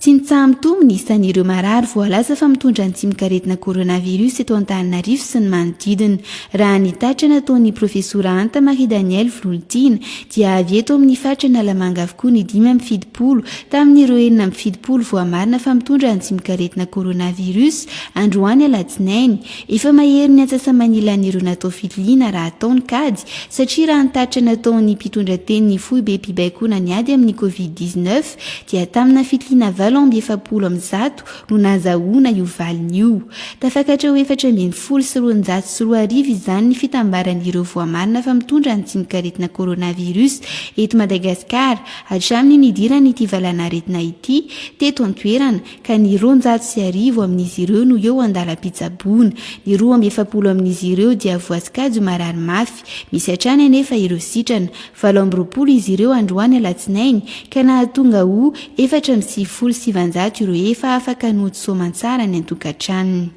Tsinitsaha mitombo ny isan'ireo marary voalaza fa mitondra ny tsimok'aretina coronavirus eto Antananarivo sy ny manodidina. Raha ny tatra nataon'ny profesora Anta Marie Danielle Vololitiana dia avy eto amin'ny faritra Analamanga avokoa ny dimy amby fitopolo tamin'ireo enina amby fitopolo voamarina fa mitondra ny tsimok'aretina coronavirus androany alatsinainy Efa mahery ny antsasa-manilan'ireo natao fitiliana raha atao ny kajy, satria raha ny tatitra nataon'ny mpitondra tenin'ny foibem-pibaikoana ny ady amin'ny Covid dix neuf dia tamina fitiliana valo amby efapolo amin'ny zato no nazahoana io valiny io. Tafakatra ho efatra ambin'ny folo sy roanjato sy roa arivo izany ny fitambaran'ireo voamarina fa mitondra ny tsimok'aretina coronavirus eto Madagasikara hatramin'ny nidiran'ity valanaretina ity teto an-toerana ka ny roanjato sy arivo amin'izy ireo no eo an-dalam-pitsaboana, ny roa amby efapolo amin'izy ireo dia voasokajy ho marary mafy, misy hatrany anefa ireo sitrana. Valo amby roapolo izy ireo androany alatsinainy, ka nahatonga ho efatra amby sivifolo sy sivinjato ireo efa afaka nohody soamantsara any an-tokantranony.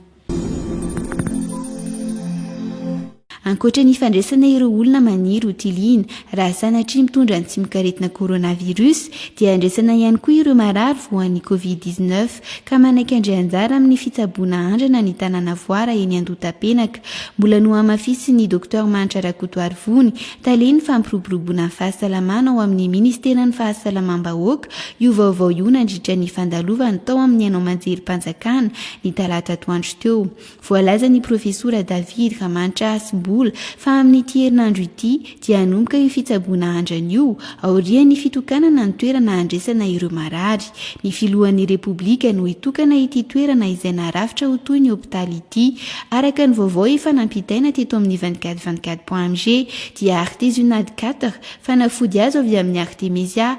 Ankoatra ny fandraisana ireo olona maniry ho tiliana raha sanatria mitondra ny tsimokaretina coronavirus dia andraisana ihany koa ireo marary voan'ny covid 19 ka manaiky handray anjara amin'ny fitsaboana andrana ny tanàna voara eny Andohatapenaka. Mbola nohamafisin'ny Docteur Manitra Rakotoarivony, talen'ny fampiroboroboana ny fahasalamana ao amin'ny Ministeran'ny Fahasalamam-bahoaka io vaovao io nandritra ny fandalovan'ny tao amin'ny haino aman-jerim-panjakana ny talata atoandro teo. Voalazan'ny profesora David Ramantra Hasibola fa amin'ity herinandro ity dia hanomboka io fitsaboana andrana io aorian'ny fitokanana ny toerana handresana ireo marary. Ny filohan'ny Repoblika no hitokana ity toerana izay narafitra ho toy ny hopitaly ity. Araka ny vaovao efa nampitaina teto amin'ny vingt quatre vingt quatre point mg dia Artes Unad quatre fanafody azo avy amin'ny Artemisia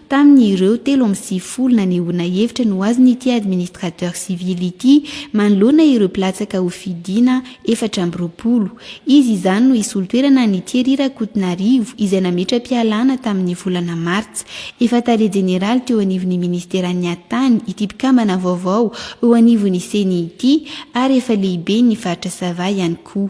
Tamin' ireo telo amby sivifolo nanehoana hevitra no azon' ity administrateur civil ity manoloana ireo mpilatsaka ho fidiana efatra amby roapolo. Izy izany no hisolo toerana an' i Thierry Rakotonarivo izay nametra-pialana tamin' ny volana martsa. Efa tale jeneraly teo anivon' ny ministeran' ny Atany ity mpikambana vaovao eo anivon' ny Ceni ity ary efa lehiben' ny faritra Sava ihany koa.